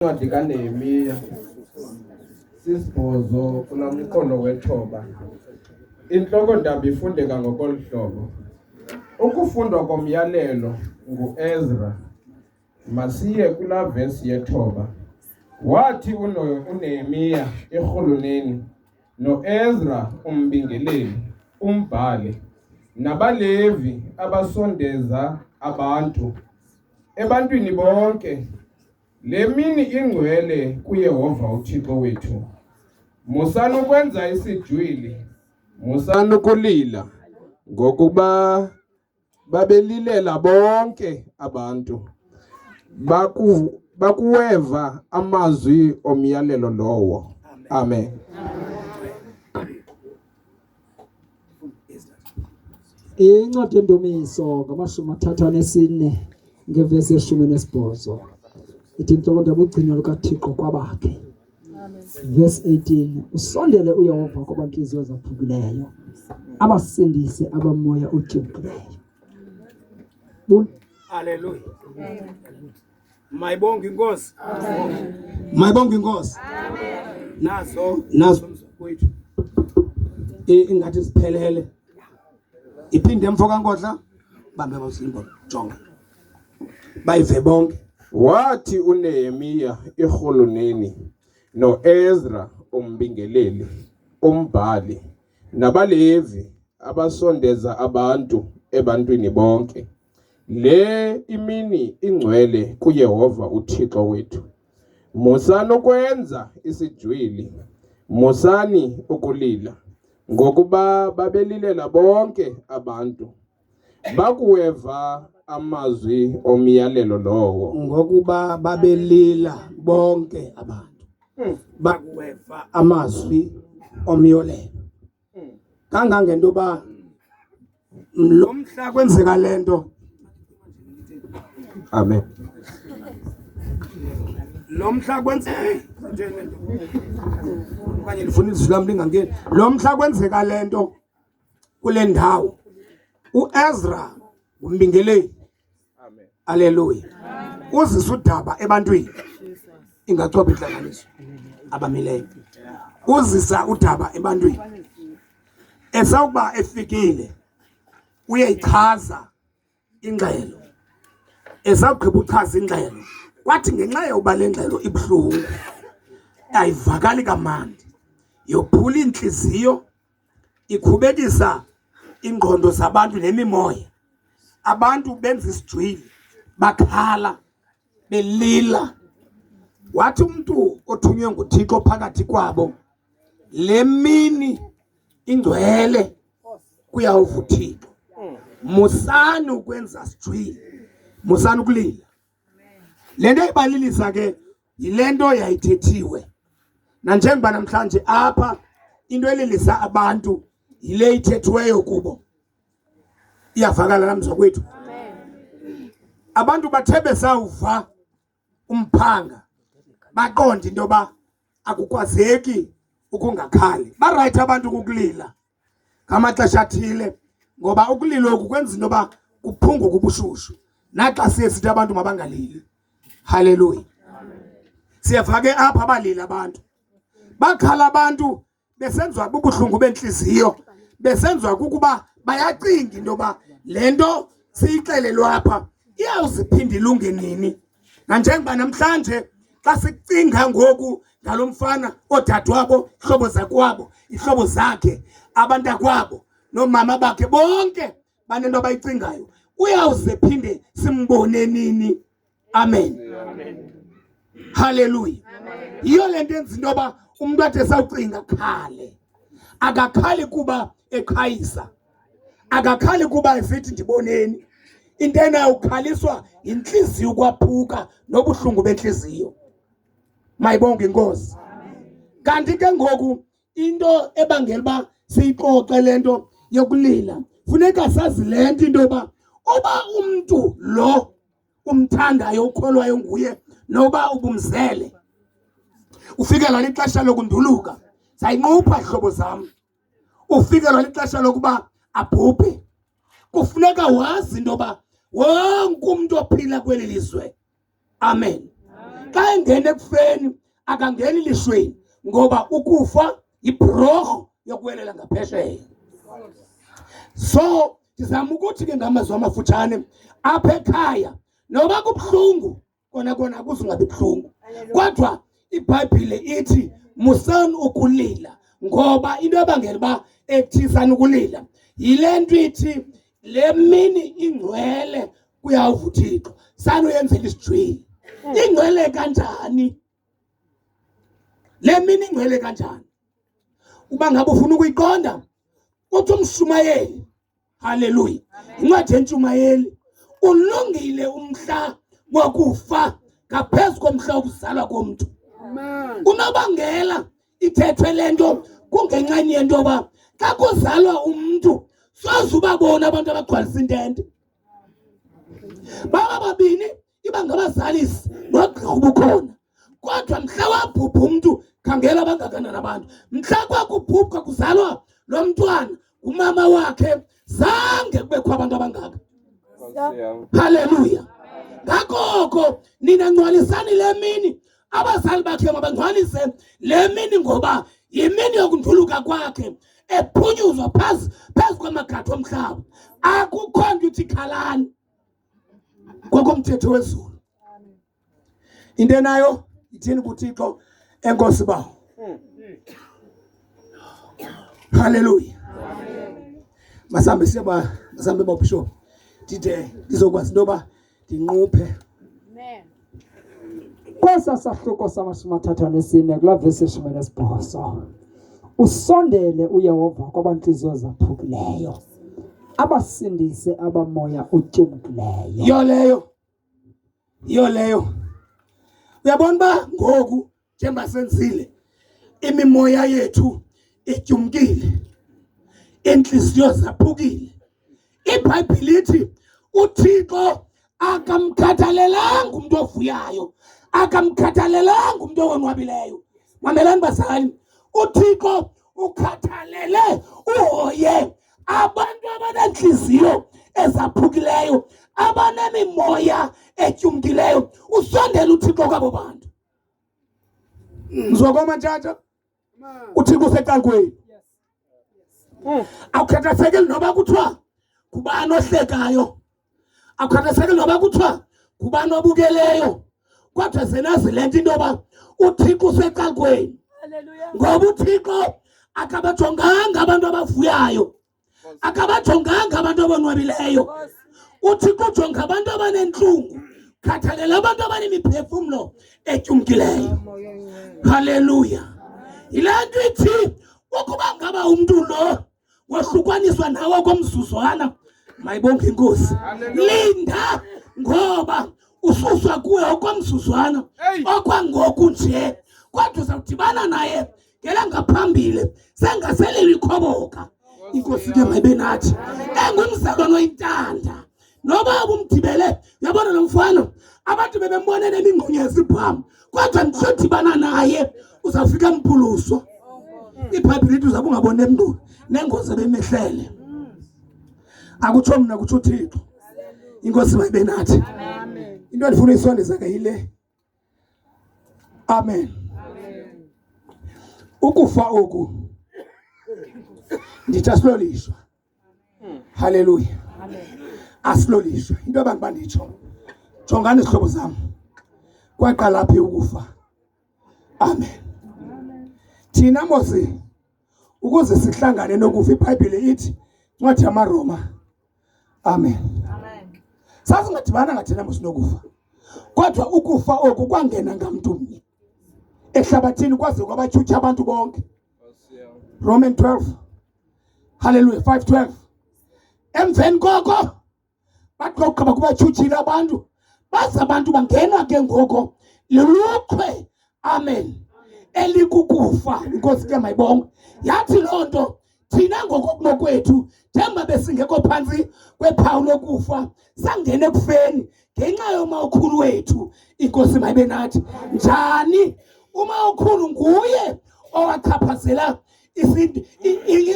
Incwadi kaNehemiya sisibhozo kula mqondo wethoba. Intloko ndaba ifundeka ngokolu hlobo. Ukufundwa komyalelo nguEzra. Masiye kula vesi yethoba. Wathi uNehemiya erhuluneni noEzra umbingeleli, umbhali, nabaLevi abasondeza abantu ebantwini bonke Le mini ingcwele kuYehova uThixo wethu. Musani ukwenza isijwili, musani ukulila, ngokuba babelilela bonke abantu. Baku, bakuweva amazwi omyalelo lowo. Amen. Amen. Incwadi yendumiso ngamashumi athathu anesine ngevesi yeshumi nesibhozo ithi intloko ndabugcinwa lukathixo kwabakhe verse 18 usondele uyehova kwabantliziyo zaphukileyo abasindise abamoya utyumkileyo Hallelujah. Mayibonge inkosi. Amen. Mayibonge inkosi. Amen. Naso naso mfowethu. Ingathi siphelele. Iphinde mfo kankodla bambe basimbo jonga. Bayive bonke. Wathi uNehemiya irhuluneni noEzra umbingeleli umbhali nabalevi abasondeza abantu ebantwini bonke Le imini ingcwele kuYehova uThixo wethu. Musani ukwenza isijwili, musani ukulila, ngokuba babelilela bonke abantu. Bakuweva amazwi omyalelo lowo. Ngokuba babelila bonke abantu. Hmm. Bakuweva amazwi omyalelo. kangangento yoba lo mhla kwenzeka le nto amen lo mhla kwenzeka okanye ndifuna izwi lam lingangeni lo mhla kwenzeka le nto kule ndawo uezra ngumbingeleli Aleluya. Uzisa udaba ebantwini ingathoba intlanganiso abamileyo. Uzisa udaba ebantwini. Esawuba efikile uyeyichaza ingxelo. Esawugqiba uchaza ingxelo kwathi ngenxa yoba le ngxelo ibuhlungu ayivakali kamandi yophula iintliziyo ikhubekisa iingqondo zabantu nemimoya abantu benza isijwili bakhala belila wathi umntu othunywe nguthixo phakathi kwabo le mini ingcwele kuyawuva uthixo musani ukwenza sijwili musani ukulila le nto ibalilisa ke Yile nto yayithethiwe nanjengoba namhlanje apha into elilisa abantu yile ithethiweyo kubo iyavakala namzwa kwethu abantu bathe besawuva umphanga baqonde into yoba akukwazeki ukungakhali barayithi abantu kukulila ngamaxesha athile ngoba ukulilo oku kwenza into yoba kuphunguke ubushushu naxa siye sithi abantu mabangalili haleluya siyeva ke apha abalili abantu bakhala abantu besenziwa bubuhlungu bentliziyo besenziwa kukuba bayacinga into yoba le nto siyixelelwe apha iyawuziphinde ilunge nini nanjengoba namhlanje xa sicinga ngoku ngalo mfana oodadewabo ihlobo zakwabo ihlobo zakhe abantakwabo noomama bakhe bonke banento abayicingayo uyawuze phinde simbone nini amen, amen. haleluya yiyo le nto enza into yoba umntu ade sawucinga khale akakhali kuba eqhayisa akakhali kuba esithi ndiboneni into enayo ukhaliswa yintliziyo ukwaphuka nobuhlungu bentliziyo mayibonge inkosi kanti ke ngoku into ebangela uba siyixoxe le nto yokulila funeka sazi le nto into yoba uba umntu lo umthandayo ukholwayo nguye noba ubumzele ufikela lixesha lokunduluka sayinqupha hlobo zam ufikelwa lixesha lokuba abhubhe. Kufuneka wazi into yoba wonke umntu ophila kweli lizwe, amen, xa engena ekufeni akangeni lishweni ngoba ukufa yibhurorho yokuwelela ngaphesheya. So ndizama ukuthi ke ngamazwi amafutshane apha ekhaya noba kubuhlungu kona kona akuze ungabi buhlungu kodwa ibhayibhile ithi musani ukulila ngoba into ebangela uba ekuthisani ukulila yile nto ithi le mini ingcwele kuyawuva uthixo sanuyenzela isijwili hmm. ingcwele kanjani le mini ingcwele kanjani uba ngabe ufuna ukuyiqonda uthi umshumayeli Haleluya. Incwadi yentshumayeli. Ulungile umhla wokufa ngaphezu komhla wokuzalwa komntu. Unobangela ithethwe le nto kungenxeni yento yoba xa kuzalwa umntu soze ubabona abantu abagcwalisa intente baba babini iba ngabazalisi nogqirha ubukhona kodwa mhla wabhubha umntu khangela abangakanani abantu mhla kwakubhubha kuzalwa lo mntwana umama wakhe zange kubekho abantu abangaka haleluya ngakoko nina ngcwalisani le mini abazali bakhe mabangcwalise le mini ngoba yimini yokuntuluka kwakhe ephunyuzwa phezu phezu kwamagathi omhlaba akukho nto uthi khalani kwakho mthetho wezulu into enayo ithini kuthixo enkosi bawo haleluya masambe siyaba masambe babishop ndide ndizokwazi into yoba ndinquphe Kwesa sahluko samashumi athathu anesine kulaa vesi eshumi enesibhozo usondele uyehova kwabantliziyo zaphukileyo abasindise abamoya utyumkileyo yiyo leyo yiyo leyo uyabona uba ngoku njengoba senzile imimoya yethu ityumkile inhliziyo zaphukile ibhayibhile ithi uthixo akamkhathalelanga umntu ovuyayo akamkhathalelanga umntu owonwabileyo mamelani bazali uthixo ukhathalele uhoye abantu abanentliziyo ezaphukileyo abanemimoya etyumkileyo usondela uthixo kwabo bantu mzwakoma tata uthixo usecalkweni mm. awukhathasakeli noba kuthiwa ngubani ohlekayo akukhathaseki noba kuthiwa ngubani obukeleyo kodwa zenazi le nto into yoba uthixo usecalkweni ngoba uthixo akabajonganga abantu abavuyayo akabajonganga abantu abonwabileyo uthi kujonga abantu abanentlungu khathalela abantu abanemiphefumlo etyumkileyo haleluya yile nto ithi ukuba ngaba umntu lo wohlukwaniswa nawe komzuzwana mayibonge inkosi linda ngoba ususwa kuwe okwamzuzwana okwangoku nje kodwa uzawudibana naye ngela ngaphambili sengasele likhoboka inkosi ke mayibe nathi engumzalwane oyintanda noba ubumgibele yabona lo mfana abantu bebembona nemingqonya yesibhamu kodwa ndisodibana naye uzawufika mpuluswa iphayiphi lithi uzabe ungabona emntu nengozi ebemehlele akutsho mna kutsho uthixo inkosi mayibe nathi into endifuna uyisondeza ke yile Amen, amen. Ukufa oku ndithi asiloliswa. Haleluya, asiloliswa. Into abantu banditsho, jongani izihlobo zam, kwaqala phi ukufa? Amen, amen. Thina mosi ukuze sihlangane nokufa ibhayibhile ithi incwadi yamaroma amen sasingadibana ngathina mosinokufa kodwa ukufa oku kwangena ngamntu mnye ehlabathini kwaze kwabatshutsha abantu bonke roman 12 halleluya 5 12 emveni koko bathi bagqiba kubatshutshile abantu baze abantu bangenwa ke ngoko lulukhwe amen elikukufa inkosi ke mayibonge yathi loo nto thina ngokokunokwethu njengoba besingekho phantsi kwephawu lokufa sangene ekufeni ngenxa yomawukhulu wethu inkosi mayibe nathi njani umawukhulu nguye owachaphazela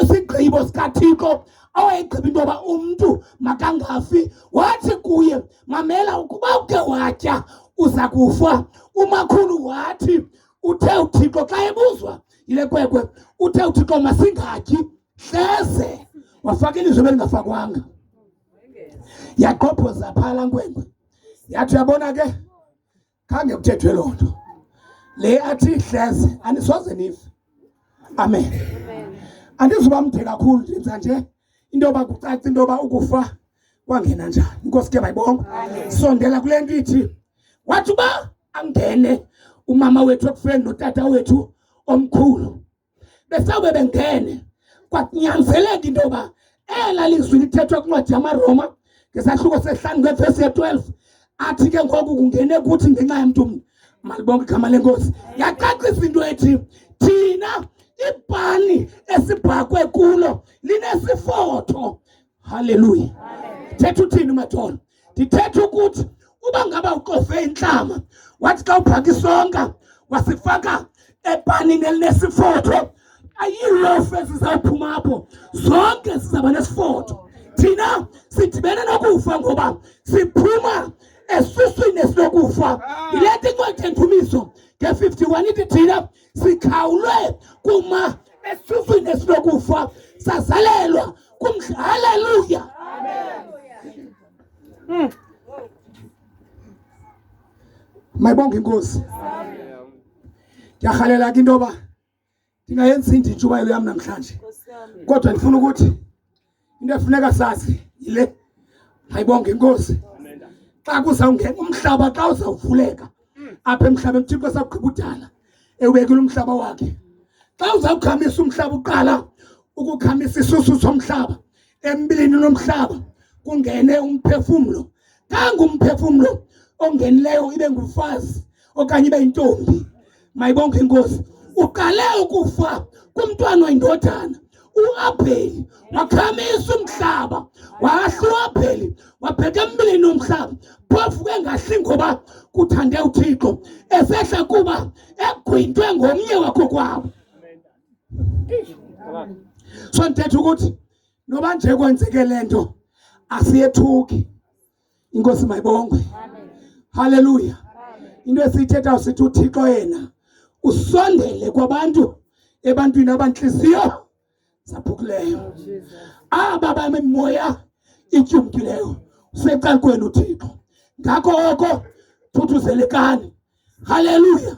isigqibo sikathixo awayegqiba into yoba umntu makangafi wathi kuye mamela ukuba uke watya uza kufa umakhulu wathi uthe uthixo xa ebuzwa yile kwekwe uthe uthixo masingatyi hleze wafaka ilizwi ebelingafakwanga yaqophoza phaa la nkwenkwe yathi uyabona ke khange kuthethwe loo nto le athi hleze anisoze nive amen andizuba mde kakhulu ndinza nje into yoba kucaca into yoba ukufa kwangena njani inkosi ke bayibonga sondela kule nto ithi wathi uba angene umama wethu ekufeni notata wethu omkhulu besawube bengene kwakunyanzeleka into yoba ela lizwi lithethwe kwincwadi yamaroma ngesahluko sehlanu ngevesi ye-12 athi ke ngoku kungene kuthi ngenxa yamntu mntu malibonke igama lenkosi yacacisa into ethi thina ibhani esibhakwe kulo linesifotho Haleluya. Thetha uthini uMatholo? Ndithetha ukuthi uba ngaba uqofe intlama wathi xa uphaka isonka wasifaka epanini elinesifotho ayilofu ezizawuphuma apho zonke sizawuba nesifotho thina sidibene nokufa ngoba siphuma esuswini esinokufa yile nto incwadi endumiso nge-51 ithi thina sikhawulwe kuma esufini esinokufa sazalelwa kumdla haleluya hmm. mayibonge inkosi ndiyarhalela ke into yoba ndingayenzi inditshubayelo yam namhlanje kodwa ndifuna ukuthi into efuneka sazi yile ayibonge inkosi xa kuzawungena umhlaba xa uzawuvuleka apha emhlabeni uthixo esakugqiba udala ewubekile umhlaba wakhe xa uzawukhamisa umhlaba uqala ukukhamisa isusu somhlaba embilini nomhlaba kungene umphefumlo Tangu umphefumlo ongenileyo ibe ngufazi okanye ibe yintombi, mayibonke inkosi, uqale ukufa kumntwana oyindodana uAbheli wakhamisa umhlaba wahla uAbheli wabheka embilini umhlaba phofu kengahli ngoba kuthande uThixo esehla kuba egwintwe ngomnye wakho kwabo so ndithetha ukuthi noba nje kwenzeke le nto asiyethuki inkosi mayibongwe haleluya into esiyithetha sithi uthixo yena usondele kwabantu ebantwini abantliziyo zaphukileyo aba bamemoya ityumkileyo usecalukweni uthixo ngakho oko thuthuzelekani haleluya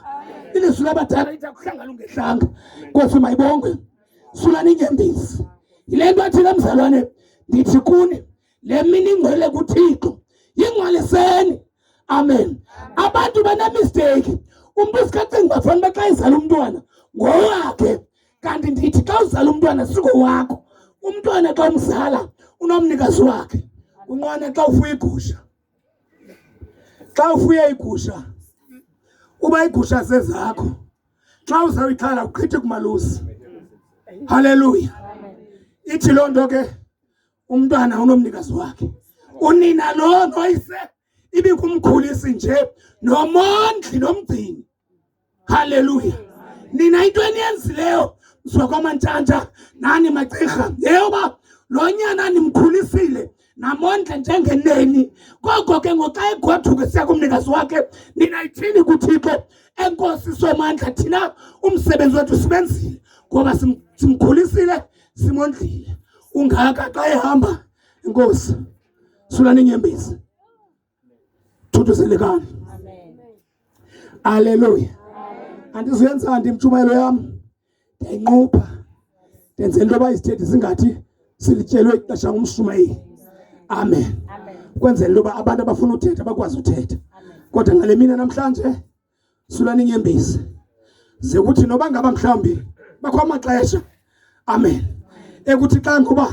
ilizwi labadala lithi akuhlanga lungehlanga nkosi mayibongwe sula ninyembisi yile nto athile mzalwane ndithi kuni le mini ingcwele kuthixo yingcwaliseni amen abantu banemisteyiki umntu sikacinga uba fanele uba xa izala umntwana ngowakhe kanti ndithi xa uzala umntwana singowakho umntwana xa umzala unomnikazi wakhe unqwana xa ufuya igusha Xa ufuye iigusha uba iigusha zezakho xa uzawuyixhala uqhithi kumalusi haleluya ithi loo nto ke umntwana unomnikazi wakhe unina lo noyise ibikumkhulisi nje nomondli nomgcini Haleluya. Ninaitwa nienzi leo msokoma ntshanja nani magcirha yeyoba lo nyana nimkhulisile namondla njengeneni koko ke ngoxa egoduke siya kumnikazi wakhe ninayithini kuthixo enkosi somandla thina umsebenzi wethu sibenzile ngoba simkhulisile simondlile ungaka xa ehamba inkosi sulani inyembezi Thuthu selekani. Amen. Hallelujah. Andizuyenza ndimtshumayelo yam. Ndinqupha. Ndenze into abayisithethi singathi silityelwe ixesha ngumshumayeli. Amen. Amen. Kwenzela into yoba abantu abafuna uthetha bakwazi uthetha. Kodwa ngale mina namhlanje silwa ninyembezi ze kuthi noba ngaba mhlawumbi bakho amaxesha amen ekuthi xa ngoba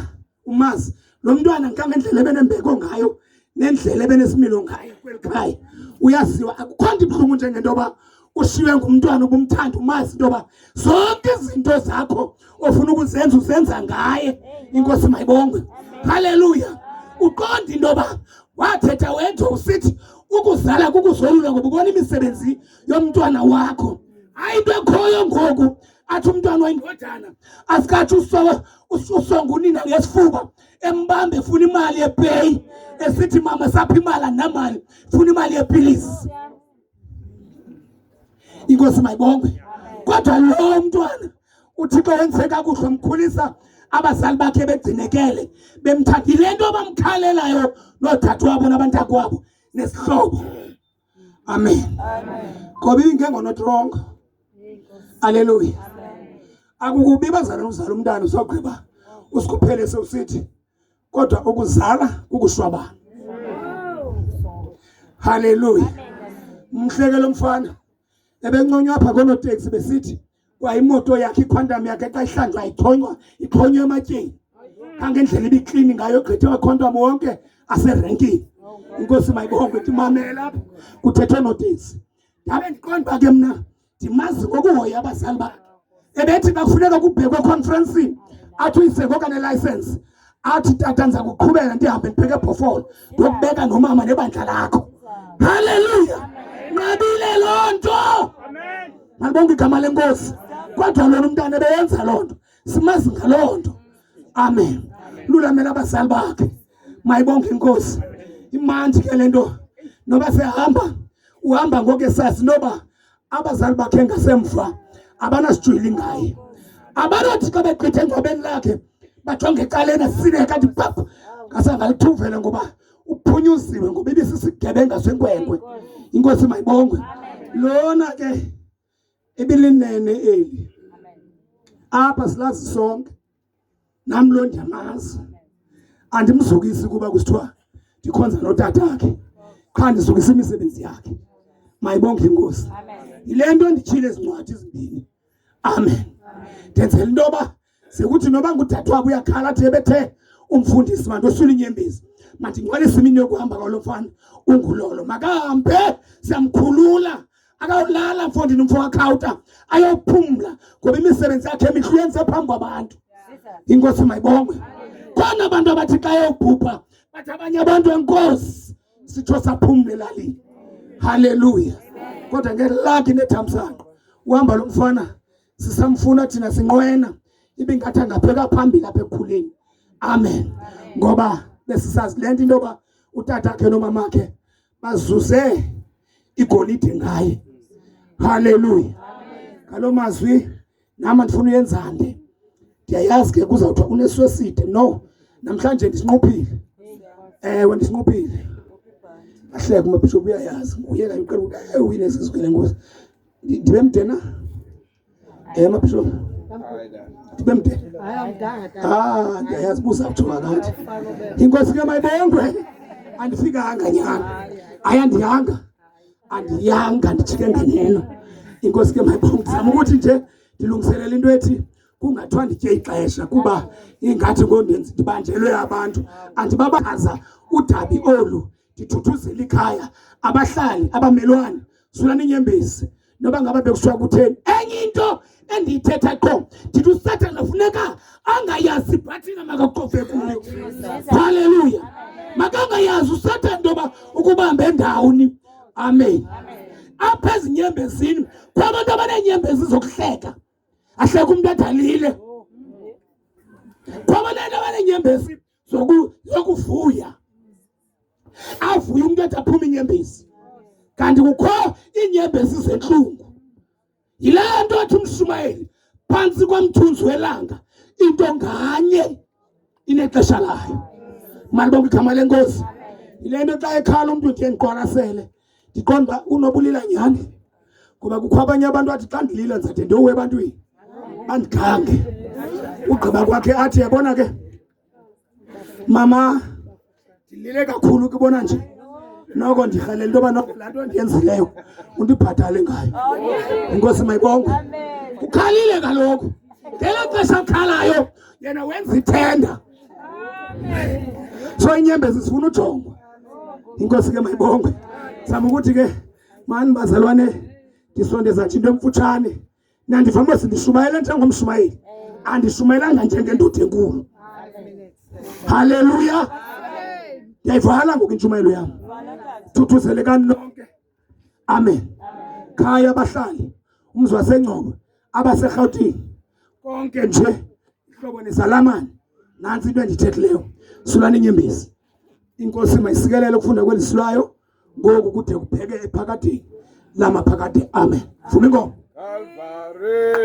umazi lo mntwana nkangendlela ebenembeko ngayo nendlela ebenesimilo ngayo kweli khaya uyaziwa akukho nto ibuhlungu njengento yoba ushiywe ngumntwana ubumthanda umazi into yoba zonke izinto zakho ofuna ukuzenza uzenza ngaye inkosi mayibongwe haleluya uqonda into yoba wathetha wethu usithi ukuzala kukuzolula ngoba ubona imisebenzi yomntwana wakho hayi into ekhoyo ngoku athi umntwana wayindodana asikathi usonga unina ngesifuba embambe efuna imali yepeyi esithi mama sapha imali anamali funa imali yepilisi inkosi mayibongwe kodwa lowo mntwana uthixo wenze kakuhle mkhulisa abazali bakhe begcinekele bemthatha yile nto bamkhalelayo noodade wabo nabantakwabo nesihlobo amen ngoba ingengonotrongo aleluya akukubi bazalana uzala umntana uzogqiba usikhuphele sewusithi kodwa ukuzala kukushwabana haleluya mhleke lo mfana ebenconywa apha konoteksi besithi kwayimoto yakhe iquantum yakhe xa ihlanjwa ithonywa ithonywa ematyeni kangendlela ibiklini ngayo gqithe waquantum wonke aserenkini inkosi mayibonge ithi mamela apha kuthethwe noteksi ndabe ndiqonda uba ke mna ndimazi ngokuhoya abazali bakhe ebethi bafuneka kubhekwe ekhonferensini athi uyise ngokanelayisensi athi tata ndiza kuqhubeka ndihambe ndibheke ebhofolo ndokubeka nomama nebandla lakho halleluya nqabile loo nto malibonke igama lenkosi kodwa lona umntana ebeyenza loo nto simazi ngaloo nto amen lulamela abazali bakhe mayibonke inkosi imandi ke le nto noba sehamba uhamba ngoku esazi noba abazali bakhe ngasemva abanasijwili ngaye abanothi xa begqithe engcwabeni lakhe bajonge ecaleni asine kanti pap ngasangalituvele ngoba uphunyuziwe ngoba ibisisigebenga senkwenkwe inkosi mayibongwe lona ke ibilinene eli apha silazi sonke nam lo ndiyamazi andimzukisi kuba kusithiwa ndikhonza notatakhe qha ndizukisa imisebenzi yakhe mayibonge inkosi yile nto nditshile ezincwadi ezimbini amen ndenzela into yoba sekuthi noba ngudade wabo uyakhala athi ebethe umfundisi bantu osula inyembezi mandingcwalise imini yokuhamba kwalo mfana ungulolo makahambe siyamkhulula akawulala mfo ndinomfo wakhawuta ayophumla ngoba imisebenzi yakhe emihle uyenze phambi kwabantu inkosi mayibongwe khona abantu abathi xa yobhubha bathi abanye abantu enkosi sitsho saphumla elalini haleluya kodwa ngelakhi nethamsanqa uhamba lo mfana sisamfuna thina sinqwena ibingathi angapheka phambili apha ekukhuleni amen ngoba besisazi le nto into yoba utata khe nomama khe bazuze igolide ngaye haleluya ngaloo mazwi nam andifuna uyenza nde ndiyayazi ke kuzawuthiwa unesweside no namhlanje ndisinquphile ewe ndisinquphile ahleke umabhishophu uyayazi nguye kanye uqela uyinezizikele ngozi ndibe mdena Eh mabisho. Tibemde. Ah, yazibuza kuthiwa ngathi. Inkosi ke mayibongwe. Andifikanga nyana. Ayandihanga. Andiyanga ndijike ngeneno. Inkosi ke mayibongwe. Ndizama ukuthi nje ndilungiselela into ethi kungathiwa nditye ixesha kuba ingathi ngondenzi ndibanjelwe abantu andibabachaza udabi olu ndithuthuzela ikhaya abahlali abamelwane zulani inyembezi noba ngaba bekushiwa kutheni enye into endiyithetha qho ndithi usathana funeka angayazi ibhathina makacofe kuyo halleluya makangayazi usathana into yoba ukubambe ndawoni amen, amen. apha ezinyembezini kwabantu abaneenyembezi zokuhleka ahleka umntu adalile kwabantu abaneenyembezi zokuvuya avuye umntu ethi aphume inyembezi kanti kukho iinyembezi zentlungu yile nto athi umshumayeli phantsi kwamthunzi welanga into nganye inexesha layo malibonke igama lenkosi yile nto xa ekhala umntu ndiye ndiqwalasele ndiqonda uba unobulila nyhani ngoba kukho abanye abantu athi xa ndilila ndizade ndiyowe ebantwini bandigange ugqiba kwakhe athi yabona ke mama ndilile kakhulu kubona nje noko ndirhalela into yoba noko laa nto ndiyenzileyo undibhatale ngayo inkosi mayibongwe ukhalile kaloku ngelo xesha akhalayo yena wenza ithenda so inyembezi zifuna ujongwa inkosi ke mayibongwe zama ukuthi ke mani bazalwane ndisonde zathi into emfutshane nandivama sindishumayela njengomshumayeli andishumayelanga njengendoda enkulu haleluya ndiyayivala ngoku intshumayelo yam thuthuzelekani nonke amen khaya abahlali umzi wasengcobo abaserhawutini konke nje ihlobo nezalamane nansi into endithethileyo sulani inyembezi inkosi mayisikelele ukufunda kweli silwayo ngoku kude kupheke ephakadini lamaphakade amen vuma ingoma Calvario.